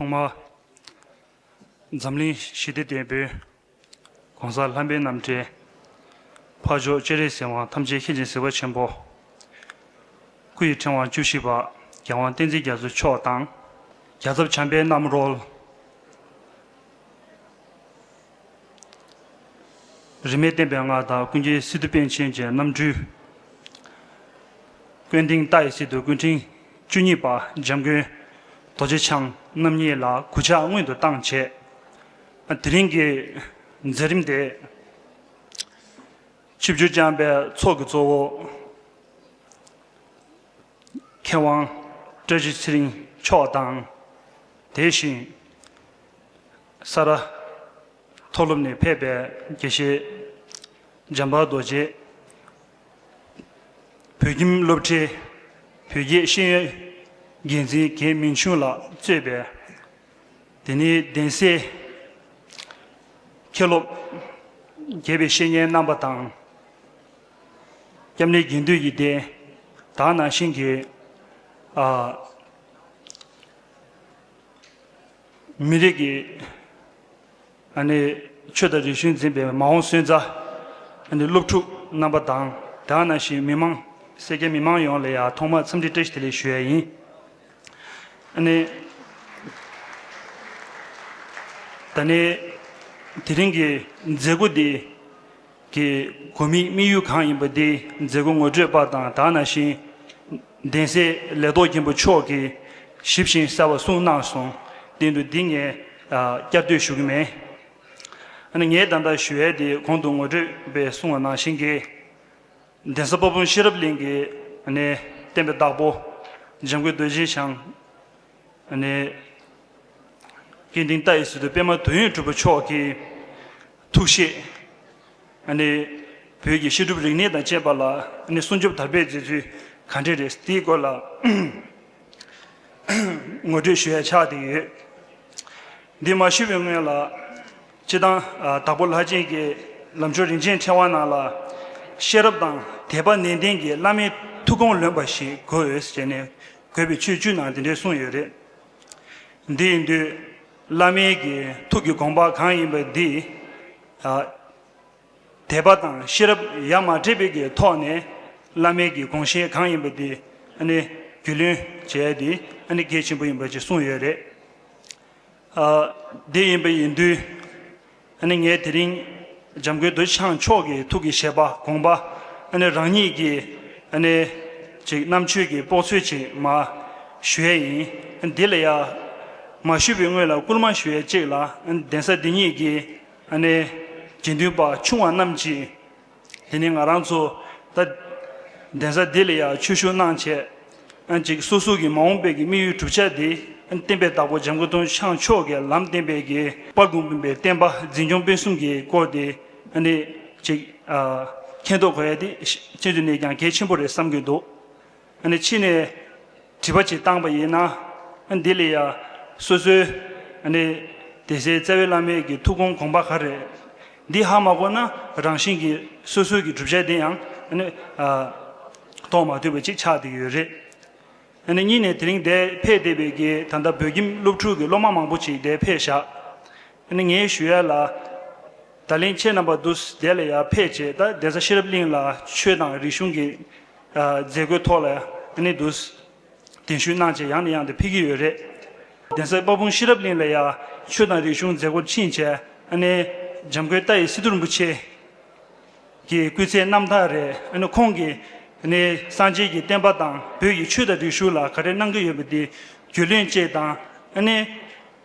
ཐོག་མར། འཛམ་གླིང་ཞི་བདེ་ལྟེ་བའི ྋགོང་ས ྋརྣམ་པའི་རྣམ་འདྲེན་འཕགས་མཆོག་སྤྱན་རས་གཟིགས་དབང་ཐམས་ཅད་མཁྱེན་བརྩེའི་གཟིགས་པ་ཆེན་པོ། སྐུ་ཡི་ཕྲེང་བ་བཅུ་བཞི་པ་རྒྱལ་དབང་བསྟན་འཛིན་རྒྱ་མཚོ་མཆོག་དང་རྒྱ་ཚབ་བྱམས་པའི་རྣམ་རོལ། རིས་མེད་བསྟན་པའི་སྔགས་དག་ཀུན་གྱི་སི་ཏུ་དཔལ་ཆེན་གྱི་རྣམ་སྤྲུལ། ཀུན་མཐིང་རྟ་ཡི་སི་ཏུ་ཀུན་ཕྲེང་བཅུ་གཉིས་པ་འཇམ་མགོན་རྡོ་རྗེ་འཆང་རྣམ་གཉིས་ལ་གུ་ཕྱག་སྔོན་དུ་བཏང་བྱས། དེ་རིང་གི་མཛད་རིམ་དེ། ཆིབས་བསྒྱུར་བསྐྱངས་པའི་ཚོགས་ཀྱི་གཙོ་བོ། མཁས་དབང་བཀྲ་ཤིས་ཚེ་རིང་མཆོག་དང། དེ་བཞིན་ས་རཱ་མཐོ་སློབ་ནས་ཕེབས་པའི་དགེ་བཤེས་འཇམ་དཔལ་རྡོ་རྗེ། བོད་ཁྱིམ་སློབ་གྲྭའི་བོད་རྒྱའི་ཤེས་ཡོན་འགན་འཛིན་དགེ་མིང་ཆུང་ལགས་གཙོས་པའི་དེ་ནས་གདན་སའི་མཁས་སློབ་དགེ་བའི་བཤེས་གཉེན་རྣམ་པ་དང། སྐྱབས་གནས་རྒྱས་འདོད་ཡིད་བཟླས། དག་སྣང་ཤིང་གི། མི་རིགས་ཀྱི། ཆོས་དང་རིག་གཞུང་འཛིན་པའི་མ་འོངས་སོན་རྩ། སློབ་ཕྲུག་རྣམ་པ་དང་དག་སྣང་ཤིང་མི་མང། སེར་སྐྱ་མི་མང་ཡོངས་ལ་ཡང་ཐོག་མར་འཚམས་འདྲི་བཀྲ་ཤིས་བདེ་ལེགས་ཞུ་ཡ་ཡིན། ད་ནི་དེ་རིང་གི་མཛད་སྒོ་འདི། གི་གོ་མིང་དམིགས་ཡུལ་གང་ཡིན་པ་འདི་མཛད་སྒོ་ངོ་སྤྲོད་པ་དང་དག་ན་བཞིན་གདན་སའི་ལས་ཐོག་མཁན་པོ་མཆོག་གིས་ཞིབ་བཞིན་གསལ་བ་གསུངས་གནང་སོང་བསྟན་དུ་འདི་ངས་བསྐྱར་ཟློས་ཞུ་གི་མེད། ང་ངའི་བདག་འདྲ་ཞུ་ཡལ་དེ་གོང་དུ་ངོ་སྤྲོད་པས་གསུངས་བ་ནང་བཞིན་གྱི། གདན་ས་དཔའ་དཔུང་ཤེས་རབ་གླིང་གི་ནས་བསྟན་པའི་བདག་པོ་འཇམ་མགོན་རྡོ་རྗེ་འཆང་ནས། སྐྱེ་འདིང་རྟ་ཡི་སི་ཏུ་པད་མ་དུས་ཡུན་གྲུབ་པ་མཆོག་གིས། ཐུགས་བཞེད། བོད་ཀྱི་བཤད་སྒྲུབ་རིག་གནས་དང་བཅས་པ་ལ་སྲུང་སྐྱོབ་དར་སྤེལ་མཛད་ཚུལ་ག་འདྲས་རེད་དེའི་སྐོར་ལ་ངོ་སྤྲོད་ཞུ་ཡ་ཆགས་བསྡད་ཡོད། འདི་མ་ཞུས་པའི་སྔོན་ལ། སྤྱི་བཏང་དྭགས་པོ་ལྷ་ཆེན་གྱི་ལམ་ཆོས་རིན་ཆེན་ཕྲེང་བ་ནང་ལ། ཤེས་རབ་དང་དད་པ་ནན་ཏན་གྱིས་བླ་མའི་ཐུགས་དགོངས་ལོན་པ་ཞིག་དགོས་འོས་ཟེར་ནས་བཀོད་པའི་ཆོས་བཅུའི་ནང་དེ་འདྲའི་གསུངས་ཡོད་རེད། འདི་ཡིན་དུས། བླ་མེད་ཀྱི་ཐུགས་ཀྱི་དགོངས་པ་གང་ཡིན་པ་འདི། དད་པ་དང་ཤེས་རབ་ཡ་མ་བྲལ་བའི་གི་ཐོག་ནས་བླ་མེད་ཀྱི་དགོངས་བཞེད་གང་ཡིན་པ་འདི་ཨ་ནི་རྒྱུས་ལོན་བྱས་ཏེ་ཨ་ནི་གལ་ཆེན་པོ་ཡིན་པ་ཅིག་གསུངས་ཡོད་རེད། དེ་ཡིན་པ་ཡིན་དུས། ཨ་ནི་ངས་དེ་རིང་འཇམ་མགོན་འདོད་ཆགས་མཆོག་གི་ཐུགས་ཀྱི་བཞེད་པ་དགོངས་པ་ཨ་ནི་རང་ཉིད་ཀྱི་ཨ་ནི་ཅིག་རྣམ་དཔྱོད་ཀྱི་དཔོག་ཚུལ་ཅིག་མ་ཞུ་ཡས་ཡིན་ཨ་ནི་དེ་ལ་ཡ་མ་ཞུས་པའི་སྔོན་ལ་བསྐུར་མ་ཞུ་ཡས་ཅིག་ལ་ཨ་ནི་གདན་ས་འདི་ཉིད་ཀྱི་ཨ་ནི་དགེ་འདུན་པ་ཆུང་བ་རྣམས་ཀྱིས་དེ་ནི་ང་རང་ཚོ་ད་གདན་ས་འདི་ལ་ཡང་ཆོས་ཞུགས་གནང་བྱས་ཅིག་སོ་སོ་གི་མ་འོངས་པའི་གི་དམིགས་ཡུལ་གྲུབ་ཆ་དེ་བསྟན་པའི་བདག་པོ་འཇམ་མགོན་སྟོན་ཆང་མཆོག་གི་ལམ་བསྟན་པའི་གི་པར་སྒོམ་པའི་བསྟན་པ་འཛིན་སྐྱོང་སྤེལ་གསུམ་གི་སྐོར་དེ་ནི་ཅིག་མཁྱེན་རྟོགས་གོ་ཡ་དེ་ཅི་ནས་ཀྱང་གལ་ཆེན་པོ་རེད་བསམ་གྱི་འདུག། ནས་ཕྱི་ནས་དྲི་བ་ཅིག་བཏང་བ་ཡིན་ན། འདི་ལས་ཡ། སོ་སོའི། ནས། དེ་སྲས་བཙལ་བས་བླ་མེད་ཀྱི་ཐུགས་དགོངས་དགོངས་པ་ག་རེ། འདི་ཧ་མ་གོ་ན་རང་བཞིན་གྱི་སོ་སོའི་གི་བསྒྲུབ་བྱ་དེ་ཡང། ནས། ཐོག་མ་དུས་པ་ཅིག་ཆགས་འདུག་ཡོད་རེད། ནས་གཉིས་ནས་དེ་རིང་འདས་འཕེས་འདས་པའི་གི་ད་ལྟ་བོད་ཁྱིམ་སློབ་ཕྲུག་གི་སློབ་མ་མང་པོ་ཅིག་འདས་འཕེས་བཞག། ནས་ངའི་ཞུ་ཡ་ལ། ད་ལིང་ཁྱེད་རྣམ་པ་འདུག་འདས་ལ་ཡར་འཕེས་བྱས་ད་འདས་ས་ཤེས་རབ་གླིང་ལ་ཆོས་དང་རིག་གཞུང་གི། མཛད་སྒོའི་ཐོག་ལ་ནི་འདུ། གདན་ཞུས་གནང་བྱས་ཡང་ནས་ཡང་དུ་ཕེབས་ཀྱི་ཡོད་རེད། གདན་སའི་དཔའ་དཔུང་ཤེས་རབ་གླིང་ལ་ཡང་ཆོས་དང་རིག་གཞུང་མཛད་སྒོར་ཕྱིན་བྱས་ནས། འཇམ་མགོན་རྟ་ཡི་སི་ཏུ་རིན་པོ་ཆེ། གི་སྐུ་ཚེའི་རྣམ་ཐར་རེད། ཁོང་གིས་ནི་སངས་རྒྱས་ཀྱི་བསྟན་པ་དང་བོད་ཀྱི་ཆོས་དང་རིག་གཞུང་ལ་ག་རེ་གནང་གི་ཡོད་པ་དེ་རྒྱུས་ལོན་བཅས་དང།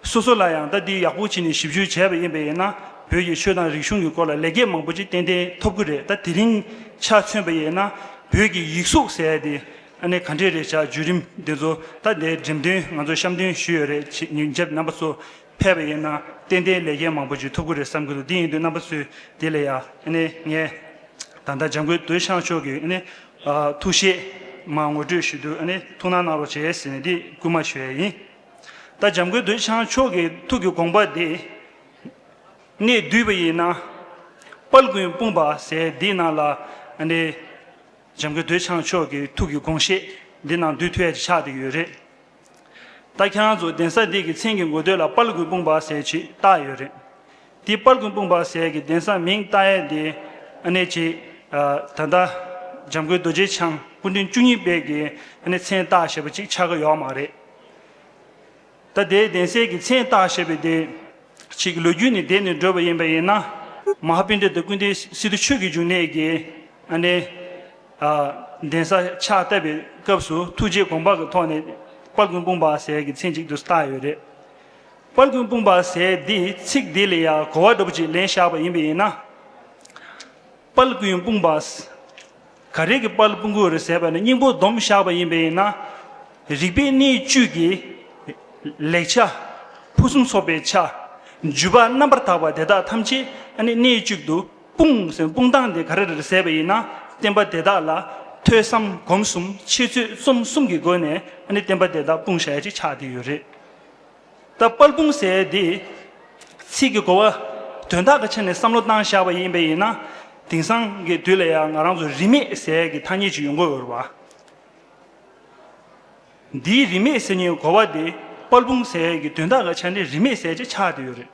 སོ་སོ་ལ་ཡང་ཟླ་འདི་ཡག་པོ་བྱས་ནས་ཞིབ་བཤེར་བྱས་པ་ཡིན་པས་ཡིན་ན་བོད་ཀྱི་ཆོས་དང་རིག་གཞུང་གི་སྐོར་ལ་ལེགས་སྐྱེས་མང་པོ་ཅིག་ཏན་ཏན་ཐོབ་གི་རེད་ད་དེ་རིང་ཆ་མཚོན་པ་ཡིན་ན་བོད་ཀྱི་ཡིག་གཟུགས་ཟེར་ཡ་དེ་ཨ་ནེ་ག་འདྲས་རེད་བྱ་བརྒྱུད་རིམ་དེ་ཚོ་ད་ལྟའི་འགྲེམས་སྟོན་ང་ཚོ་བཤམས་སྟོན་ཞུས་ཡོད་རེད་བྱས་ཉིན་རྒྱབ་རྣམ་པ་ཚོ་ཕེབས་པ་ཡིན་ན་ཏན་ཏན་ལེགས་སྐྱེས་མང་པོ་ཅིག་ཐོབ་གི་རེད་བསམ་གི་འདུག་དེ་ཡིན་དུས་རྣམ་པ་ཚོས་དེ་ལས་ཡ་ཨ་ནེ་ངས་ད་ལྟ་འཇམ་མགོན་དོལ་ཤང་མཆོག་གི་ཨ་ནེ་ཐུགས་བཞེད་མ་ངོ་སྤྲོད་ཞུས་འདུག་ཨ་ནེ་ཐུགས་སྣང་གནང་རོགས་བྱས་ཟེར་ནས་དེ་བསྐུལ་མ་ཞུས་ཡ་ཡིན། ད་འཇམ་མགོན་འདོད་ཆགས་མཆོག་གི་ཐུགས་ཀྱི་དགོངས་པ་འདི། ངས་བསྡུས་པ་ཡིན་ན། དཔལ་ཀུན་སྤུངས་པ་ཟེར་འདི་ནང་ལ། འཇམ་མགོན་འདོད་ཆགས་མཆོག་གི་ཐུགས་ཀྱི་དགོངས་བཞེད་འདི་ནང་བསྡུས་ཐུལ་ཡ་ཅིག་ཆགས་དེ་ཡོད་རེད། ད་ཁྱེད་རང་ཚོ་གདན་ས་འདི་གི་མཚན་གྱི་མགོ་སྟོད་ལ་དཔལ་ཀུན་སྤུངས་པ་ཟེར་ཅིག་བཏགས་ཡོད་རེད། དེ་དཔལ་ཀུན་སྤུངས་པ་ཟེར་གྱི་གདན་ས་མིང་བཏགས་ཡས་འདི། ཨ་ནེ་ཅིག་ད་ལྟ་འཇམ་མགོན་རྡོ་རྗེ་འཆང་སྐུ་མདུན་བཅུ་གཉིས་དཔལ་གྱི་མཚན་བཏགས་ཞེས་པ་ཅིག་ཆགས་ཀྱི་ཡོག་མ་རེད། ད་ལྟའི་གདན་སའི་གི་མཚན་བཏགས་ཞེས་པའི་དེ། ཆིག་ལོས་རྒྱུད་ནི་འདས་ནས་འགྲོ་བ་ཡིན་པ་ཡིན་ན། མ་ཧཱ་པིན་དྲ་དང་ཀུན་ཏའི་སི་ཏུ་ཆོས་ཀྱི་འབྱུང་གནས་ཀྱི། ཨ་ནེ། གདན་ས་ཕྱག་བཏབ་པའི་སྐབས་སུ་ཐུགས་རྗེའི་དགོངས་པ་གི་ཐོག་ནས། དཔལ་ཀུན་སྤུངས་པ་ཟས་ཀྱི་མཚན་གཅིག་ཏུ་བཏགས་ཡོད་རེད། དཔལ་ཀུན་སྤུངས་པ་ཟས་འདི་ཚིག་འདི་ལས་ཡང་གོ་བ་འདྲ་པོ་ཅིག་ལེན་བཞག་པ་ཡིན་པས་ཡིན་ན། དཔལ་ཀུན་སྤུངས་པ། ག་རེ་གི་པར་ལ་སྤུན་དགུ་རེ་ཟེར་བ་ནི་སྙིང་པོ་སྡོམ་བཞག་པ་ཡིན་པས་ན། རིག་པའི་གནས་བཅུ་གྱི། ལེགས་ཆ། ཕུན་སུམ་ཚོགས་པའི་ཆ། བརྒྱུད་པ་རྣམ་པར་དག་པ་དེ་དག་ཐམས་ཅད་ནི་གནས་བཅུ་དུ་སྤུངས་ཟེར་སྤུངས་སྟངས་དེ་ག་རེ་རེ་ཟེར་བ་ཡིན་ན་བསྟན་པ་དེ་དག་ལ་ཐོས་བསམ་སྒོམ་གསུམ་འཆད་རྩོད་རྩོམ་གསུམ་གྱི་སྒོ་ནས་ནི་བསྟན་པ་དེ་དག་སྤུངས་བྱ་ཡ་གཅིག་ཆགས་དེ་ཡོད་རེད། ད་དཔལ་སྤུངས་ཟེར་བའི་དེ། ཚིག་གི་གོ་བ། དོན་དག་གི་ཆ་ནས་བསམ་བློ་བཏང་བཞག་པ་ཡིན་པས་ཡིན་ན། དེང་སང་གི་དུས་ལ་ཡང་ང་རང་ཚོ་རིས་མེད་ཟེར་ཡས་ཀྱི་ཐ་སྙད་ཅིག་ཡོང་དགོས་འོས་པ། འདིའི་རིས་མེད་ཟེར་ཉིའི་གོ་བ་དེ་དཔལ་སྤུངས་ཟེར་ཡས་ཀྱི་དོན་དག་གི་ཆ་ནས་རིས་མེད་ཟེར་ཅེས་ཆགས་བསྡད་ཡོད་རེད།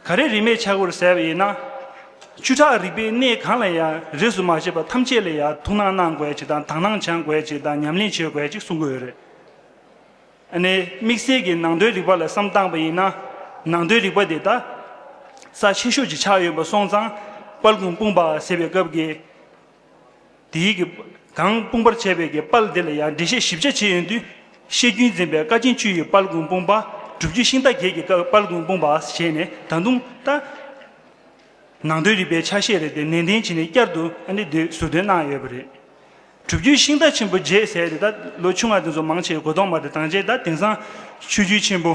ག་རེ་རིས་མེད་ཆགས་དགོས་ཟེར་བ་ཡིན་ན། བཅུ་ཕྲག་རིག་པའི་གནས་གང་ལ་ཡང་རིས་སུ་མ་ཆད་པ་ཐམས་ཅད་ལ་ཡང་ཐུགས་སྣང་གནང་དགོས་ཅིག་དང་དག་སྣང་བྱང་དགོས་ཅིག་དང་ཉམས་ལེན་བྱེད་དགོས་ཅིག་གསུང་གི་འོས་རེད། ཨ་ནེ། དམིགས་བསལ་གྱི་ནང་དོན་རིག་པ་ལ་བསམ་བཏང་བ་ཡིན་ན། ནང་དོན་རིག་པ་དེ་ད་ས་ཆེ་ཤོས་ཀྱི་ཆགས་ཡོད་པ་སོང་ཙང་དཔལ་གོང་སྤུངས་པ་ཟེར་བའི་སྐབས་ཀྱི་དེའི་གི་གང་སྤུངས་པར་བྱས་པའི་གི་དཔལ་དེ་ལ་ཡང་འགྲེལ་བཤད་ཞིབ་ཆ་བྱས་ཡོད་དུས་བཤད་རྒྱུན་འཛིན་པའི་བཀའ་ཆེན་བཅུ་ཡི་དཔལ་གོང་སྤུངས་པ་སྒྲུབ་བརྒྱུད་ཤིང་རྟ་བརྒྱད་ཀྱི་དཔལ་གོང་སྤུངས་པ་ཞེས་ནས་ད་དུང་ད། ནང་དོན་རིག་པའི་ཆ་ཤས་རེ་དེ་ནན་ཏན་བྱས་ནས་བསྐྱར་དུ་ཨ་ནེ་འདིར་ཟུར་འདོན་གནང་ཡོད་པ་རེད། གྲུབ་བརྒྱུད་ཤིང་རྟ་ཆེན་པོ་རྗེས་ཟས་དེ་དག་ལོ་ཆུང་བ་དེ་ཚོ་མང་ཆེ་བའི་གོ་གདོང་དམར་དེ་དྭངས་ཆེན་དང་དེང་སང་ཆོས་བརྒྱུད་ཆེན་པོ།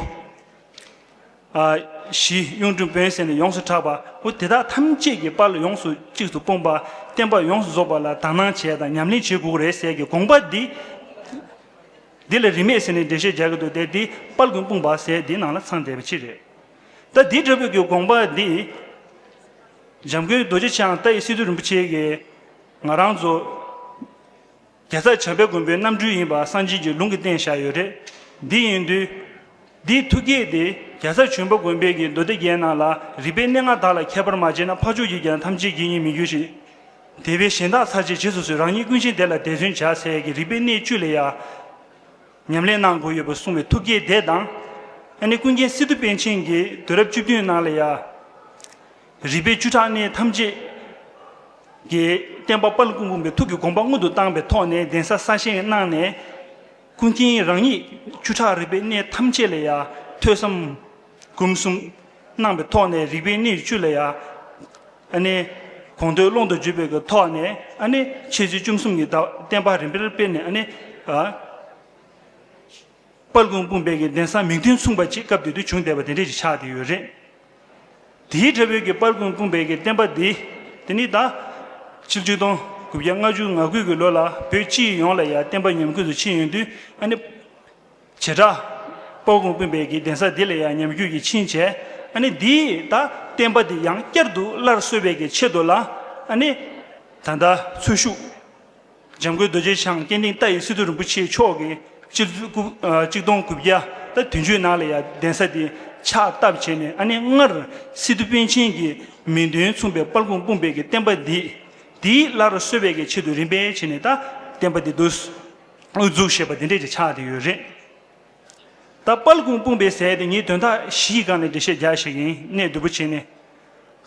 བཞི། གཡུང་དྲུང་བོན་ཟེར་ནས་ཡོངས་སུ་གྲགས་པ་པོ་དེ་དག་ཐམས་ཅད་ཀྱི་དཔར་ལ་ཡོངས་སུ་གཅིག་ཏུ་སྤུངས་པ་བསྟན་པ་ཡོངས་སུ་རྫོགས་པ་ལ་དག་སྣང་བྱས་དང་ཉམས་ལེན་བྱེད་དགོས་རེད་ཟེར་གྱི་དགོངས་པ་འདི། འདི་ལ་རིས་མེད་ཟེར་ནས་འགྲེལ་བཤད་རྒྱག་གི་འདུག་དེ་འདི་དཔར་དགོན་སྤུངས་པ་ཟེར་འདིའི་ནང་ལ་ཚང་བསྡད་པའི་ཕྱིར་རེད། ད་འདི་འདྲ་བོད་ཀྱི་དགོངས་པ་འདི། འཇམ་མགོན་རྡོ་རྗེ་འཆང་རྟ་ཡི་སི་ཏུ་རིན་པོ་ཆེ་གིས། ང་རང་ཚོ། རྒྱལ་ཚབ་བྱམས་པའི་མགོན་པོའི་རྣམ་སྤྲུལ་ཡིན་པ་གསང་ཆེན་གྱི་ལུང་གིས་བསྟན་བཞག་ཡོད་རེད། འདི་ཡིན་དུས། འདིའི་ཐུགས་བསྐྱེད་དེ་རྒྱལ་ཚབ་བྱོན་པ་དགོན་པའི་གྱི་མདོ་སྡེ་བརྒྱད་ནང་ལ་རིག་པའི་གནས་ལྔ་དག་ལ་ཁྱད་པར་མ་བྱས་ན་འཕགས་མཆོག་གིས་ཀྱང་ཐམས་ཅད་ཀྱི་ཡིན་མི་འགྱུར་ཞིང། དེ་བས་གཞན་དག་ཚར་བཅད་བྱེད་སོ་སོའི་རང་ཉིད་ཀུན་ཆེན་དེ་ལ་དད་བརྩོན་བྱ་ཚད་ཀྱི་རིག་པའི་གནས་བཅུ་ལས་ཡར། ཉམས་ལེན་གནང་དགོས་ཡོད་པ་གསུངས་བའི་ཐུགས་བསྐྱེད་དེ་དང། ཨ་ནེ་ཀུན་མཁྱེན་སི་ཏུ་པཎ་ཆེན་གྱིས་དུས་རབས་བཅུ་བདུན་ནང་ལ་ཡང། རིག་པའི་བཅུ་ཕྲག་གནས་ཐམས་ཅད་ཀྱི་བསྟན་པ་དཔའ་ཀུན་འབུམ་པའི་ཐུགས་ཀྱི་དགོངས་པ་སྔོན་དུ་བཏང་པའི་ཐོག་ནས་གདན་ས་གསར་བཞེངས་གནང་ནས། ཀུན་མཁྱེན་རང་ཉིད་བཅུ་ཕྲག་རིག་པའི་གནས་ཐམས་ཅད་ལ་ཡང་ཐོས་བསམ། སྐུ་གསུམ། སྣང་བའི་ཐོག་ནས་རིག་པའི་གནས་བཅུ་ལ་ཡང། ཨ་ནི། གོང་ཐོས་ཀློང་དུ་བརྒྱུད་པའི་གི་ཐོག་ནས་ཨ་ནི། འཆད་ཚུལ་བཅུ་གསུམ་གྱི་བརྡ་བསྟན་པ་རིམ་པར་སྤེལ་ནས་ཨ་ནི། དཔལ་ཀུན་སྤུངས་དཔལ་གྱི་གདན་ས་མིང་དོན་མཚུངས་པ་གཅིག་སྐབས་དེ་དུས་བྱུང་བསྡད་པ་དེ་འདྲས་ཀྱི་ཆགས་བསྡད་ཡོད་རེད། དེའི་འབྲས་བུས་ཀྱི་དཔལ་ཀུན་སྤུངས་དཔལ་གྱི་བསྟན་པ་འདི། དེ་ནི་ད། ཕྱི་བཅུ་སྟོང་དགུ་བརྒྱ་ལྔ་བཅུ་ང་དགུ་གི་ལོ་ལ་བོད་སྤྱི་ཡོངས་ལ་ཡང་བསྟན་པ་ཉམས་རྒུད་དུ་ཕྱིན་ཡོད་དུས་ཨ་ནི། བྱེ་བྲག། སྤོ་གོང་སྤུན་པའི་གི་གདན་ས་འདི་ལ་ཡང་ཉམས་རྒྱུད་ཀྱི་ཕྱིན་ཆད་ཨ་ནི་འདི་ད་བསྟན་པ་འདི་ཡང་བསྐྱར་དུ་སླར་གསོ་བའི་གི་ཆེད་དུ་ལ་ཨ་ནི། ད་ལྟ་ཚུལ་ཤུགས། འཇམ་མགོན་རྡོ་རྗེ་འཆང་སྐྱེ་འདིང་རྟ་ཡི་སི་ཏུ་རིན་པོ་ཆེ་མཆོག་གི་སྤྱི་ལོ་དགུ་གཅིག་སྟོང་དགུ་བརྒྱ་དང་དོན་བཅུ་ནང་ལ་ཡང་གདན་ས་འདི་ཕྱག་བཏབ་བྱས་ནས་ཨ་ནི་སྔར་སི་ཏུ་པཎ་ཆེན་གྱི་མིང་དོན་མཚུངས་པའི་སྤར་གོང་སྤུན་པའི་གི་བསྟན་པ་འདི་འདི་སླར་གསོ་བའི་གི་ཆེད་དུ་རིམ་པས་བྱས་ནས་ད་བསྟན་པ་འདི་བསྡུ། དབུ་གཙུག་ཞེས་པ་འདི་འདྲས་ཀྱི་ཕྱག་དེ་ཡོད་རེད། ད་དཔལ་ཀུན་སྤུངས་པའི་ཟས་དེ་ངས་དོན་དག་ཞི་ཡི་སྒང་ནས་འབྲི་བཤད་རྒྱག་ཞིག་ཡིན་གནས་བདུད་པོ་ཆེ་ནས་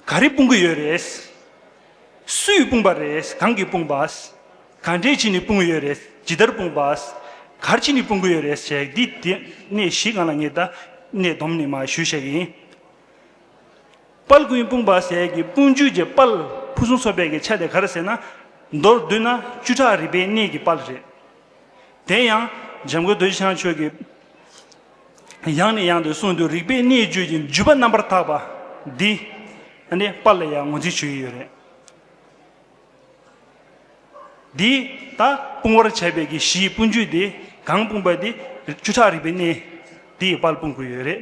ག་རེ་སྤུངས་གི་ཡོད་རེད། སུས་སྤུངས་པ་རེད་གང་གིས་སྤུངས་པ། ག་འདྲས་བྱས་ནས་སྤུངས་གི་ཡོད་རེད་ཇི་ལྟར་སྤུངས་པ། གར་ཕྱིན་ནས་སྤུངས་གི་ཡོད་རེད་བྱས་འདི་དེ་གནས་ཞི་སྒང་ལ་ངས་ད་གནས་བསྡོམས་ནས་མ་ཞུས་ཞིག་ཡིན། དཔལ་ཀུན་སྤུངས་པ་ཟས་ཀྱི་སྤུངས་རྒྱུད་ཀྱི་དཔལ་ཕུན་སུམ་ཚོགས་པའི་གི་ཆ་དེ་གར་ཟེར་ན། མདོར་བསྡུས་ན་བཅུ་ཕྲག་རིག་པའི་གནས་ཀྱི་དཔལ་རེད། དེ་ཡང་འཇམ་མགོན་རྡོ་རྗེ་འཆང་ཆོས་ཀྱི་ཡང་ནས་ཡང་དུ་གསུངས་འདུག་རིག་པའི་གནས་བརྗོད་ཀྱི་འཇུག་པ་རྣམ་པར་དག་པ་འདི་ནི་དཔལ་ལ་ཡང་ངོས་འཛིན་བྱེད་ཀྱི་ཡོད་རེད། འདི་ལྟ་སྤུངས་བར་བྱ་བའི་གི་གཞིའི་སྤུངས་རྒྱུད་དེ་གང་སྤུངས་པ་དེ་བཅུ་ཕྲག་རིག་པའི་གནས་དེའི་དཔལ་སྤུངས་དགོས་ཡོད་རེད།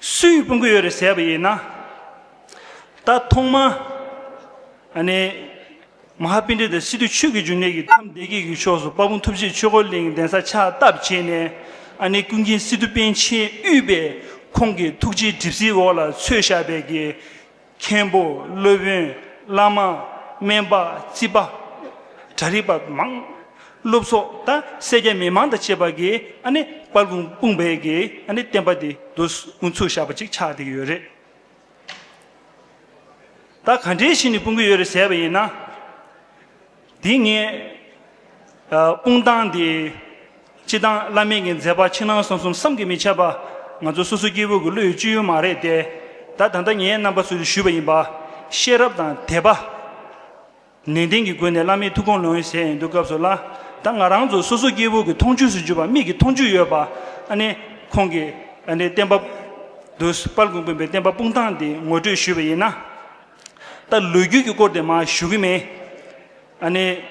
སུས་སྤུན་དགུ་ཡོད་རེད་ཟེར་བ་ཡིན་ན། ད་ཐོག་མ་ཨ་ནེ་མ་ཧཱ་པིན་དྲི་དང་སི་ཏུ་ཆོས་ཀྱི་འབྱུང་གནས་ཀྱི་ཐམས་བདེ་དགྱེས་ཀྱི་ཕྱོགས་སུ་དཔའ་བོ་ཐུབ་ཆེ་ཆོས་འཁོར་གླིང་གདན་ས་ཕྱག་བཏབ་བྱས་ནས་ཨ་ནེ་ཀུན་མཁྱེན་སི་ཏུ་པཎ་ཆེན་དབུས་པས་ཁོང་གི་ཐུགས་རྗེའི་གྲིབ་བསིལ་འོག་ལ་ཚོས་ཞབས་པད་ཀྱི་མཁན་པོ་སློབ་དཔོན་བླ་མ་སྨན་པ་རྩིས་པ། གྲྭ་རིག་པ་མང། སློབ་ཚོགས་དང་སེར་སྐྱ་མི་མང་དང་བཅས་པ་གིས་ཨ་ནི་དཔལ་སྤུངས་སྤུངས་བལ་གྱིས་ཨ་ནི་བསྟན་པ་འདི་བསྡུ་དགོངས་ཚུལ་བཞག་པ་ཅིག་ཆགས་བསྡད་ཀྱི་ཡོད་རེད། ད་ག་འདྲའི་ཞིག་ནས་སྤུངས་ཀྱི་ཡོད་རེད་ཟེར་བ་ཡིན་ན། དེ་ངས་དཔུང་བཏང་སྟེ། སྤྱི་བཏང་བླ་མེད་ཀྱི་མཛད་པ་ཕྱི་ནང་གསང་གསུམ་བསམ་གྱིས་མི་ཁྱབ་པ། ང་ཚོ་སོ་སོའི་སྐྱེ་བོ་གི་བློ་ཡི་སྤྱོད་ཡུལ་མ་རེད་དེ། ད་ད་ལྟ་ངའི་རྣམ་པ་སུ་རེ་ཞུས་པ་ཡིན་པ། ཤེས་རབ་དང་དད་པ། ནན་ཏན་གྱི་སྒོ་ནས་བླ་མའི་ཐུགས་དགོངས་ལོངས་ཡོད་ཟེར་ཡིན་འདུག་སྐབས་སུ་ལ་ད་ང་རང་ཚོ་སོ་སོ་སྐྱེ་བོ་གི་མཐོང་ཆོས་སུ་གྱུར་པ་མིག་གི་མཐོང་ཆོས་ཡོད་པ་ཨ་ནི་ཁོང་གི་ཨ་ནི་བསྟན་པ། དུས་དཔལ་གོང་བུ་པའི་བསྟན་པ་དཔུང་བཏང་སྟེ་ངོ་སྤྲོད་ཞུས་པ་ཡིན་ན། ད་ལོ་རྒྱུས་ཀྱི་སྐོར་དེ་མ་ཞུ་གི་མེད། ཨ་ནི།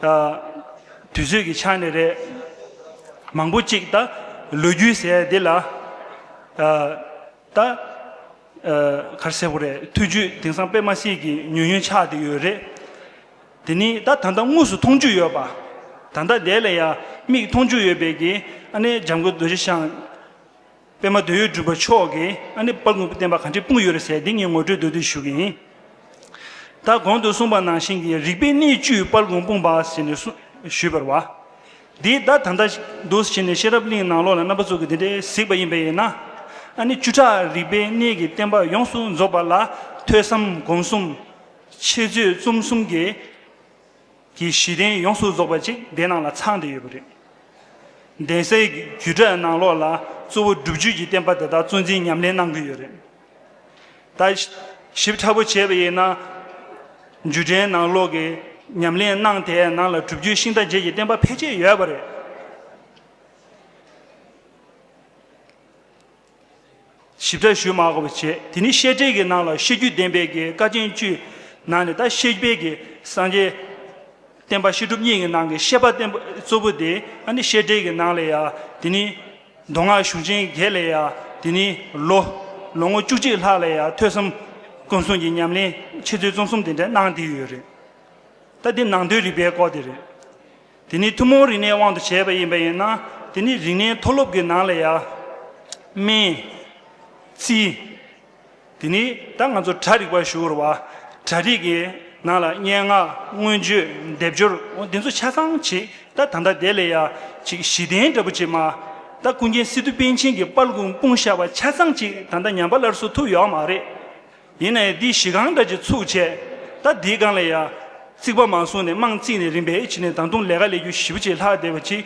ད། དུས་ཚོད་ཀྱི་ཆ་ནས་རེད། མང་པོ་གཅིག་ད། ལོ་རྒྱུས་ཟེར་ཡ་འདི་ལ། ད། གར་གསལ་བོ་རེད་ཐུགས་རྒྱུད་དེང་སང་དཔེ་མ་སྲིད་ཀྱི་ཉུང་ཉུང་ཆགས་དེ་ཡོད་རེད། དེ་ནི་ད་ད་ལྟ་དངོས་སུ་མཐོང་རྒྱུ་ཡོད་པ། ད་ལྟ་དེ་ལ་ཡང་མིག་མཐོང་རྒྱུ་ཡོད་པས་ཀྱི་ཨ་ནི་འཇམ་མགོན་རྡོ་རྗེ་ཤང། པད་མ་དོན་ཡོད་སྒྲུབ་པ་མཆོག་གིས་ཨ་ནི་དཔའ་དངོས་པོ་བསྟན་པ་གང་ཁྲིད་སྤུངས་ཡོད་རེད་ཟེར་དེ་ངས་ངོ་སྤྲོད་འདོད་དུ་ཞུ་གི་ཡིན། ད་གོང་དུ་གསུངས་པ་ནང་བཞིན་གྱི་རིག་པའི་གནས་བཅུའི་དཔལ་དགོངས་སྤུངས་པ་ཟེར་ནས་གསུངས་ཞུས་པར་བ། དེའི་བརྡ་ད་ལྟ་འདུག་བྱས་ནས་ཤེས་རབ་གླིང་ནང་ལོག་ལ་རྣམ་པ་ཚུགས་ཀྱི་དེ་འདྲའི་གཟིགས་པ་ཡིན་པས་ཡིན་ན། ཨ་ནི་བཅུ་ཕྲག་རིག་པའི་གནས་ཀྱི་བསྟན་པ་ཡོངས་སུ་རྫོགས་པ་ལ་ཐོས་བསམ་སྒོམ་གསུམ། འཆད་རྩོད་རྩོམ་གསུམ་གྱི། ཀྱི་གཞི་རྟེན་ཡོངས་སུ་རྫོགས་པ་ཅིག་འདི་ནང་ལ་ཚང་སྟེ་ཡོད་པ་རེད། གདན་སའི་རྒྱུད་གྲྭའི་ནང་ལོགས་ལ་གཙོ་བོ་སྒྲུབ་བརྒྱུད་ཀྱི་བསྟན་པ་དེ་དག་གཙོ་འཛིན་ཉམས་ལེན་གནང་གི་ཡོད་རེད། ད་ཞིབ་ཕྲ་པོ་བྱས་པ་ཡིན་ན། རྒྱུད་གྲྭའི་ནང་ལོགས་ཀྱི་ཉམས་ལེན་གནང་དེའི་ནང་ལ་སྒྲུབ་བརྒྱུད་ཤིང་རྟ་བརྒྱད་ཀྱི་བསྟན་པ་ཕལ་ཆེར་ཡོད་པ་རེད། ཞིབ་ཕྲ་ཞུས་མ་གོ་བ་བྱས་དེ་ནི་བཤད་ཁྲེལ་གྱི་ནང་ལ་བཤད་རྒྱུད་བདེན་པའི་གི་ཀ་ཅན་བཅུའི་ནང་ནས་ད་བཤད་དཔེ་གི་སངས་རྒྱས་བསྟན་པ་བཤད་སྒྲུབ་གཉིས་ཀྱི་ནང་གི་བཤད་པ་བསྟན་པ་གཙོ་བོ་དེ་ཨ་ནི་བཤད་ཁྲེལ་གྱི་ནང་ལས་ཡ་དེ་ནི་མདོ་སྔགས་གཞུང་ཆེན་བརྒྱད་ལས་ཡ་དེ་ནི་ལོ་ལོ་ངོ་བཅུ་གཅིག་ལྷག་ལས་ཡ་ཐོས་བསམ་སྐུ་གསུང་གི་ཉམས་ལེན་འཆད་རྩོད་རྩོམ་གསུམ་དེ་འདྲ་གནང་དེ་ཡོད་རེད་ད་དེ་ནང་དོན་རིག་པའི་སྐོར་དེ་རེད། དེ་ནི་ཐུན་མོང་རིག་གནས་དབང་དུ་བྱས་པ་ཡིན་པ་ཡིན་ན་དེ་ནི་རིག་གནས་མཐོ་སློབ་ཀྱི་ནང་ལ་ཡ། སྨན། རྩིས། དེ་ནི་ད་ང་ཚོ་གྲྭ་རིག་པར་ཞུ་བར་བ། གྲྭ་རིག་གི་ནང་ལ་སྙན་ངག་མངོན་བརྗོད་སྡེབ་སྦྱོར་འདི་ཚོ་ཆ་ཚང་བྱེད་ད་ད་ལྟ་དེ་ལས་ཡ། ཅིག་གཞི་བདེན་འདྲ་པོ་བྱེད་མ། ད་ཀུན་མཁྱེན་སི་ཏུ་པཎ་ཆེན་གྱི་དཔར་ལུང་སྤུངས་ཤ་བ་ཆ་ཚང་ཅིག་ད་ད་ཉམས་པ་སླར་གསོ་ཐུབ་ཡོའོ་མ་རེད། ཡིན་ནའི་འདི་གཞི་གང་འདྲ་གྱི་ཚུགས་ཆེ། ད་འདིའི་སྒང་ལ་ཡ། རྩིག་པ་མ་བཟུང་ནས་རྨང་བརྩིགས་ནས་རིམ་པས་ཕྱི་ནས་དང་དུང་ལས་ཀ་ལས་རྒྱུ་བཞི་བོ་ཆེ་ལྷག་བསྡད་པ་གཅིག།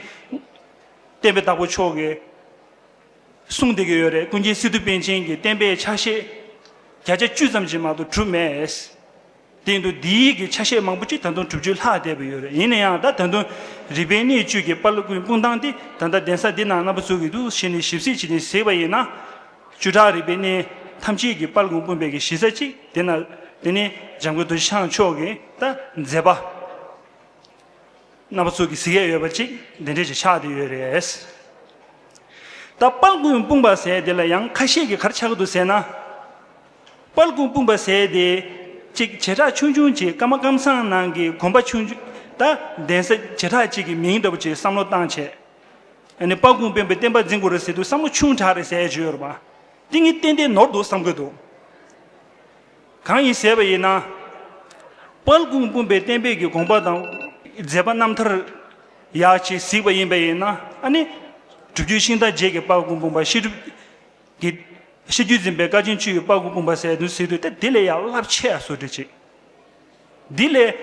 བསྟན་པའི་བདག་པོ་མཆོག་གིས། གསུངས་བསྡད་ཀྱི་ཡོད་རེད་ཀུན་མཁྱེན་སི་ཏུ་པཎ་ཆེན་གྱི་བསྟན་པའི་ཕྱག་བཞེས། བརྒྱ་ཆ་བཅུ་ཙམ་གྱི་མང་དུ་གྲུབ་མེད། སྟེང་དུ་འདིའི་ཡིག་གི་ཆ་ཤས་མང་པོ་ཅིག་ད་དུང་དྲུག་ཅུ་ལྷག་བསྡད་པ་ཡོད་རེད་ཡིན་ན་ཡང་ད་ད་དུང་རིག་པའི་གནས་བཅུད་ཀྱི་པར་ཀུན་སྤུངས་སྟངས་འདི་ད་ལྟ་གདན་ས་འདི་ན་རྣམ་པ་ཚུགས་ཀྱི་འདུག་གཞི་ནས་ཞིབ་གཟིགས་བྱས་ནས་གཟིགས་པ་ཡིན་ན། བཅུ་ཕྲག་རིག་པའི་གནས་ཐམས་ཅད་ཀྱི་པར་ཀུན་སྤུངས་པའི་གི་གཞི་རྩ་གཅིག་དེ་ན་དེ་ནི་འཇམ་མགོན་རྡོ་རྗེ་འཆང་མཆོག་གི་ད་མཛད་པ། རྣམ་པ་ཚུགས་ཀྱི་གཟིགས་ཡས་ཡོད་པ་གཅིག་དེ་འབྲེལ་གྱི་ཕྱག་དེ་ཡོད་རེད། ད་པར་ཀུན་སྤུངས་པ་ཟེར་དེ་ལ་ཡང་ཁ་ཤས་ཀྱི་གར་ཆག་གི་འདུག་ཟེར་ན། སྤར་ཁུང་སྤུངས་པ་ཟས་དེ། ཅིག་བྱེ་བྲག་ཆུང་ཆུང་གཅིག་སྐར་མ་སྐམ་སང་ནང་གི་གོམ་པ་ཆུང། ད་གདན་ས་བྱེ་བྲག་ཅིག་གི་མིང་འདྲ་པོ་ཅིག་བསམ་བློ་བཏང་བྱས། ནས་སྤར་ཁུང་སྤེན་པའི་བསྟན་པ་འཛིན་དགོས་རེད་ཟེར་དུས་བསམ་བློ་ཆུང་དྲགས་རེད་ཟེར་བྱས་ཡོད་པ། ཏིང་ངེ་ཏན་ཏན་ནོར་འདུག་བསམ་དགོས་འདུག། གང་ཡིན་ཟེར་བ་ཡིན་ན། སྤར་ཁུང་སྤུངས་པའི་བསྟན་པའི་གི་དགོངས་པ་དང། མཛད་པ་རྣམ་ཐར། ཡག་ཅིག་གཟིགས་པ་ཡིན་པ་ཡིན་ན་ཨ་ནི། གྲུབ་བརྒྱུད་ཤིང་རྟ་རྗེས་ཀྱི་སྤར་ཁུང་སྤུངས་པ་ཤེས་སྒྲུབ། དེ། ཕྱི་རྒྱུད་འཛིན་པའི་བཀའ་བྱིན་ཆུ་ཡི་དཔའ་གུ་བུམ་པ་སྲས་བདུན་ཟེར་དུས་དེ་ལས་ཡང་རླབས་ཆེ་བ་སོགས་བྲི་ཅིག། འདི་ལས།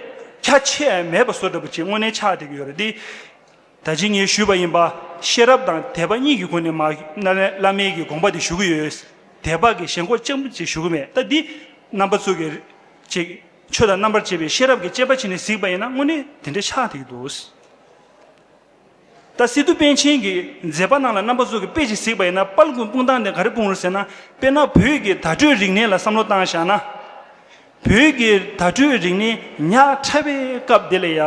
ཁྱད་ཆེ་བ་མེད་པ་སོགས་འདྲ་པོ་ཅིག་དངོས་གནས་ཆགས་བསྡད་ཀྱི་ཡོད་རེད་དེ། ད་ཕྱིན་ངས་ཞུས་པ་ཡིན་པ། ཤེས་རབ་དང་དད་པ་གཉིས་ཀྱི་སྒོ་ནས་མ། བླ་མེད་ཀྱི་དགོངས་པ་དེ་ཞུ་གི་ཡོད། དད་པ་གི་ཞེན་ཁོག་ཅན་པོ་ཅིག་ཞུ་གི་མེད་ད་འདི། རྣམ་པ་ཚུགས་ཀྱི། ཅིག། ཆོས་དང་རྣམ་པར་འབྱེད་པའི་ཤེས་རབ་ཀྱི་དཔྱད་པ་བྱས་ནས་གཟིགས་པ་ཡིན་ན་དངོས་གནས་དེ་འདྲ་ཆགས་བསྡད་ཀྱི་འདུག། ད་སི་ཏུ་པཎ་ཆེན་གྱིས་མཛད་པ་རྣམས་ལ་རྣམ་པ་གཟུགས་ཀྱི་དཔེ་ཅིག་གཟིགས་པ་ཡིན་ན་དཔལ་ཀུན་སྤུངས་སྟངས་དེ་ག་རེ་སྤུངས་རུང་ཟེར་ན་དཔེར་ན་བོད་ཀྱི་དྭ་ཕྲུའི་རིག་གནས་ལ་བསམ་བློ་བཏང་བཞག་ན། བོད་ཀྱི་དྭ་ཕྲུའི་རིག་གནས་ཉག་ཕྲ་བའི་སྐབས་དེ་ལས་ཡག་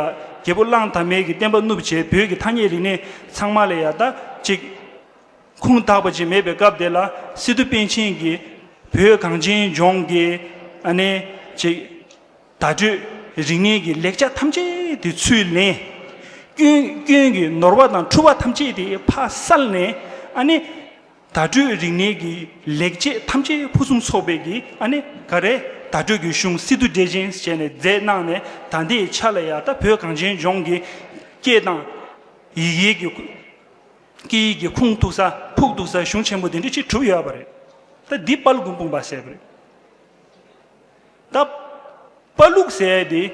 རྒྱལ་པོ་གླང་དར་མས་ཀྱི་བསྟན་པ་བསྣུབས་རྗེས་བོད་ཀྱི་ཐ་སྙད་རིག་གནས་ཚང་མ་ལས་ཡག་ད་ཅིག་ཁུངས་དག་པ་ཅིག་མེད་པའི་སྐབས་དེ་ལ་སི་ཏུ་པཎ་ཆེན་གྱིས་བོད་གངས་ཅན་ལྗོངས་ཀྱི་ཨ་ནེ་ཅིག། བརྡ་སྤྲོད་རིག་གནས་ཀྱི་ལེགས་ཆ་ཐམས་ཅད་དེ་ཚུར་ལེན། སྐྱོན་སྐྱོན་གྱི་ནོར་བ་དང་འཁྲུལ་བ་ཐམས་ཅད་དེ་ཕ་སར་ལེན། ཨ་ནི། བརྡ་སྤྲོད་རིག་གནས་ཀྱི་ལེགས་ཆས་ཐམས་ཅད་ཕུན་སུམ་ཚོགས་པའི་གི་ཨ་ནི་ག་རེ་བརྡ་སྤྲོད་ཀྱི་གཞུང་སི་ཏུ་འབྲས་ཆན་ཞེས་ནས་རྫས་གནང་ནས་ད་ལྟའི་ཆ་ལ་ཡག་ད་བོད་གངས་ཅན་ལྗོངས་ཀྱི་སྐད་དང། ཡི་གེ་ཀྱི་སྐད་ཡིག་གི་ཁུངས་གཏུགས་ས་ཕུགས་གཏུགས་ས་གཞུང་ཆེན་པོ་དེ་འདྲ་ཅིག་གྲུབ་ཡོད་པ་རེད། ད་འདི་དཔལ་མགོན་དཔུང་པ་ཟེར་བ་རེད། བཏབ། དཔའ་ལུག་ཟས་དེ།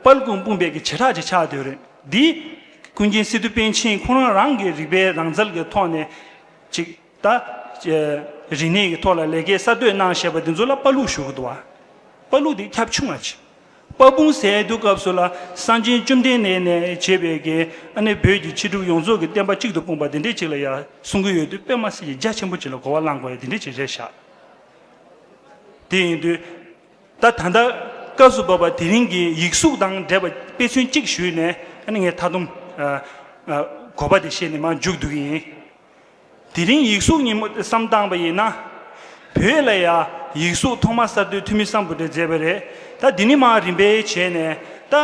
དཔའ་ལུག་དཔུང་སྤུངས་སྦས་ཀྱི་བྱེ་བྲག་ཅིག་ཆགས་དོད་རེད། འདི། ཀུན་མཁྱེན་སི་ཏུ་པཎ་ཆེན་ཁོང་རང་རང་གི་རིག་པའི་རང་རྩལ་གྱི་ཐོག་ནས། ཅིག། ད། རིག་གནས་ཀྱི་ཐོག་ལ་ལས་ཀའི་གསར་གཏོད་གནང་བཞེད་པ་འདི་ཚོ་ལ་དཔའ་ལུག་ཞུ་གི་འདུག་བ། དཔའ་ལུག་དེ་ཁྱབ་ཆུང་བ་ཅིག། དཔའ་སྤུངས་ཟས་དུས་སྐབས་སུ་ལ་གསང་ཆེན་བཅོམ་ལྡན་འདས་ནས་བྱེད་པའི་དགེ། ཨ་ནེ་བོད་ཀྱི་ཕྱི་སྒྲུབ་ཡོངས་རྫོགས་ཀྱི་བསྟན་པ་གཅིག་ཏུ་སྤུངས་པ་འདི་འདྲའི་ཅིག་ལ་ཡང་གསུང་གི་ཡོད་དུས་པད་མ་སི་ཡིས་རྒྱ་ཆེན་པོ་ཅིག་ལ་གོ་བ་བླང་དགོས་ཡ་འདི་འདྲའི་ཅིག་རེད་ཤག། དེ་ཡིན་དུས། ད་ད་ལྟ་སྐབས་སུ་བབ་པ་དེ་རིང་གི་ཡིག་གཟུགས་དང་འབྲེལ་བ་དཔེ་མཚོན་གཅིག་ཞུས་ནས་ཨ་ནི་ངའི་མཐའ་སྡོམ། གོ་བ་དེ་བཤད་ནས་མར་འཇུག་བསྡུ་གི་ཡིན། དེ་རིང་ཡིག་གཟུགས་ཉིན་མོ་བསམ་བཏང་བ་ཡིན་ན། བོད་ལ་ཡང་ཡིག་གཟུགས་ཐོག་མ་གསར་གཏོད་འཐུས་མི་གསང་བོ་དེ་མཛད་པ་རེད་ད་དེ་ནི་མར་རིམ་པས་བྱས་ནས་ད།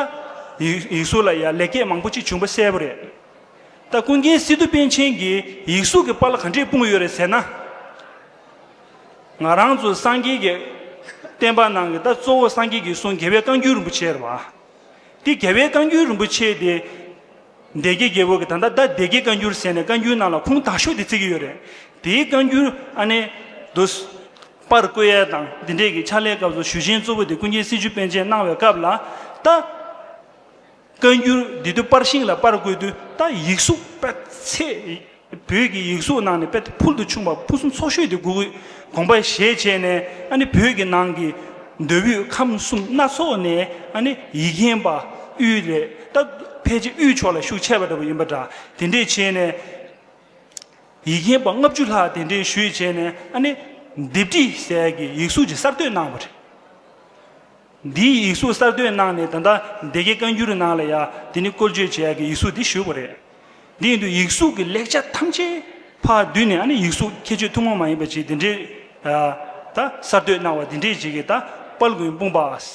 ཡིག་གཟུགས་ལ་ཡང་ལེགས་སྐྱེས་མང་པོ་ཅིག་བྱུང་བ་གསལ་བོ་རེད། ད་ཀུན་མཁྱེན་སི་ཏུ་པཎ་ཆེན་གྱིས་ཡིག་གཟུགས་ཀྱི་པར་ལ་ག་འདྲས་སྤུངས་ཡོད་རེད་ཟེར་ན། ང་རང་ཚོ་སངས་རྒྱས་ཀྱི་བསྟན་པ་ནང་གི་ད་གཙོ་བོ་སངས་རྒྱས་ཀྱི་གསུང་རྒྱལ་བའི་བཀའ་འགྱུར་རིན་པོ་ཆེ་རེད་བ། དེ་རྒྱལ་བའི་བཀའ་འགྱུར་རིན་པོ་ཆེ་དེ། སྡེ་དགེ་རྒྱལ་པོ་གི་ད་ལྟ་ད་སྡེ་དགེ་བཀའ་འགྱུར་ཟེར་ནས་བཀའ་འགྱུར་ནང་ལ་ཁུངས་དག་ཤོས་དེ་བརྩི་གི་ཡོད་རེད། དེའི་བཀའ་འགྱུར་ཨ་ནེ། དུ། པར་བཀོད་ཡས་དང་འདི་འདྲས་ཀྱི་ཕྱག་ལས་སྐབས་སུ་ཞུ་ཆེན་གཙོ་བོ་དེ་ཀུན་མཁྱེན་སྲིད་བྱུས་པན་ཆེན་གནང་བའི་སྐབས་ལ་ད། བཀའ་འགྱུར་འདི་བསྡུ་དཔར་ཤིང་ལ་དཔར་དགོས་དུས་ད་ཡིག་གཟུགས་དཔེ་ཚེ་བོད་ཀྱི་ཡིག་གཟུགས་ནང་ནས་དཔེ་དེ་ཕུལ་དུ་ཕྱུང་བ་ཕུན་སུམ་ཚོགས་ཤོས་དེ་དགོས་དགོངས་པ་བཞེས་བྱས་ནས་ཨ་ནི་བོད་ཀྱི་ནང་གི་མདོ་དབུས་ཁམས་གསུམ་སྣ་ཚོགས་ནས་ཨ་ནི་ཡིག་མཁན་པ་དབུས་ལས་ད་ཕལ་ཆེར་དབུས་ཕྱོགས་ལ་ཤུགས་ཆེ་བ་འདྲ་བོ་ཡིན་པ་འདྲ་དེ་འདྲས་བྱས་ནས་ཡིག་མཁན་པ་ལྔ་བཅུ་ལྷག་དེ་འདྲས་ཞུས་བྱས་ནས་ཨ་ནི་ལྡེབས་བྲིས་གསལ་གྱི་ཡིག་གཟུགས་ཅིག་གསར་གཏོད་གནང་བ་རེད། འདིའི་ཡིག་གཟུགས་གསར་གཏོད་གནང་ནས་ད་ལྟ་སྡེ་དགེ་བཀའ་འགྱུར་ནང་ལ་ཡང་དེ་ནི་བཀོལ་སྤྱོད་བྱེད་ཡག་གི་ཡིག་གཟུགས་འདི་ཞུས་པ་རེད། དེ་ཡིན་དུས་ཡིག་གཟུགས་ཀྱི་ལེགས་ཆ་ཐམས་ཅད་ཕར་བསྡུས་ནས་ཨ་ནི་ཡིག་གཟུགས་ཁྱད་ཆོས་ཐུན་མོང་མ་ཡིན་པ་ཅིག་འདི་འདྲའི་ད་གསར་གཏོད་གནང་བ་འདི་འདྲའི་བྱེད་ཀྱི་ད་དཔལ་མགོན་དཔུང་པའས་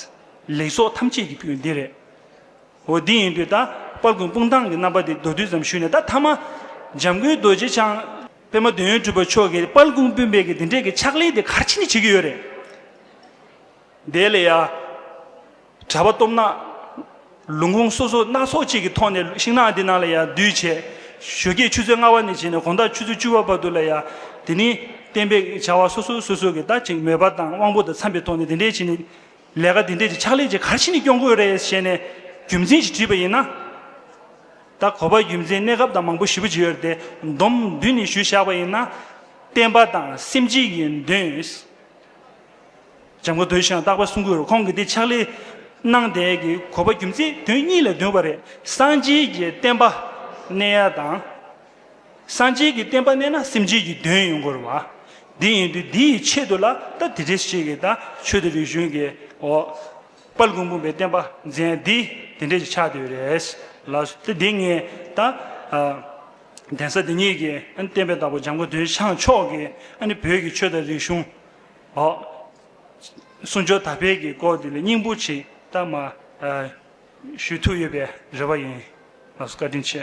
ལེགས་ཚོགས་ཐམས་ཅད་ཀྱི་ཕུལ་འདི་རེད། འོ་དེ་ཡིན་དུས་ད་དཔལ་མགོན་དཔུང་ཐང་གི་རྣམ་པ་དེ་མདོར་བསྡུས་ཙམ་ཞུས་ནས་ད་ཐ་མ་འཇམ་མགོན་རྡོ་རྗེ་འཆང་པད་མ་འདོད་ཡོན་སྤྲུལ་པ་མཆོག་གིས་དཔལ་མགོན་དཔུང་པས་ཀྱི་འདི་འདྲའི་གི་ཕྱག་ལེན་དེ་གར་ཕྱིན་ནས་བྱེད་ཀྱི་ཡོད་རེད། དེ་ལས་ཡང་གྲྭ་པ་སྟོབས་ནག། ལུང་ཁུངས་སོ་སོ་སྣ་ཚོགས་ཅིག་གི་ཐོག་ནས་ཤིང་ནགས་འདི་ནང་ལ་ཡང་འདུས་བྱས་བཞོ་སྐྱེས་ཆུ་ཚོད་ལྔ་བ་ནས་བྱས་ནས་གོང་ཟླ་ཆུ་ཚོད་བཅུ་བ་བར་དུ་ལ་ཡང་དེ་ནི་བསྟན་པའི་བྱ་བ་སོ་སོ་སོ་སོ་གིས་ད་ཅིག་མོས་པ་དང་དབང་པོ་དང་འཚམས་པའི་ཐོག་ནས་དེ་འདྲའི་བྱས་ནས་ལས་ཀ་དེ་འདྲའི་ཅིག་ཕྱག་ལས་ཅིག་གར་ཕྱིན་ནས་སྐྱོང་དགོས་རེད་ཞེས་ནས་རྒྱུ་མཚན་ཞིག་དྲིས་པ་ཡིན་ན། ད་གོ་བ་རྒྱུ་མཚན་གནས་སྐབས་དང་མང་པོ་ཞིབ་པོ་བྱས་ཡོད་དེ་འདོམས་མདུན་ནས་ཞུས་བཞག་པ་ཡིན་ན། བསྟན་པ་དང་སེམས་སྐྱིད་ཀྱི་མདུན། འཇམ་མགོ་དོལ་ཞིང་སྟག་པ་སྲུང་སྐུད་རུ་ཁོང་གིས་འདི་ཕྱག་ལས། སྣང་མདས་ཀྱི་གོ་བ་རྒྱུ་མཚན་དོན་གཉིས་ལས་བདུན་པ་རེད། གསང་ཆེན་གྱི་བསྟན་པ་གནས་ཡ་དང། གསང་ཆེན་གྱི་བསྟན་པ་གནས་ན་སེམས་ཅན་གྱི་དོན་ཡོང་དགོས་རུ་བ། དེ་ཡིན་དུས་འདི་ཡི་ཆེད་དུ་ལ་ད་དེ་འདྲས་ཤིག་གིས་ད་ཆོས་དང་རིག་གཞུང་གི་འོག། དཔལ་མགོན་བུམ་པའི་བསྟན་པ་མཛད་འདི་དེ་འདྲས་ཀྱི་ཆགས་དུས་རེད། ལ་སྟེ་འདི་ངས་ད། གདན་ས་འདི་ཉིད་ཀྱི་བསྟན་པའི་བདག་པོ་འཇམ་མགོ་དོལ་ཞང་མཆོག་གིས་ནི་བོད་ཀྱི་ཆོས་དང་རིག་གཞུང། ཧོ། གསུང་ཆོས་དར་འཕེལ་གྱི་སྐོར་འདི་ལ་སྙིང་པོ་ཆེ་གཏམ་མ། ཞུས་ཐུགས་ཡོད་པའི་རེ་བ་ཡིན། ལགས་སོ་བཀའ་དྲིན་ཆེ།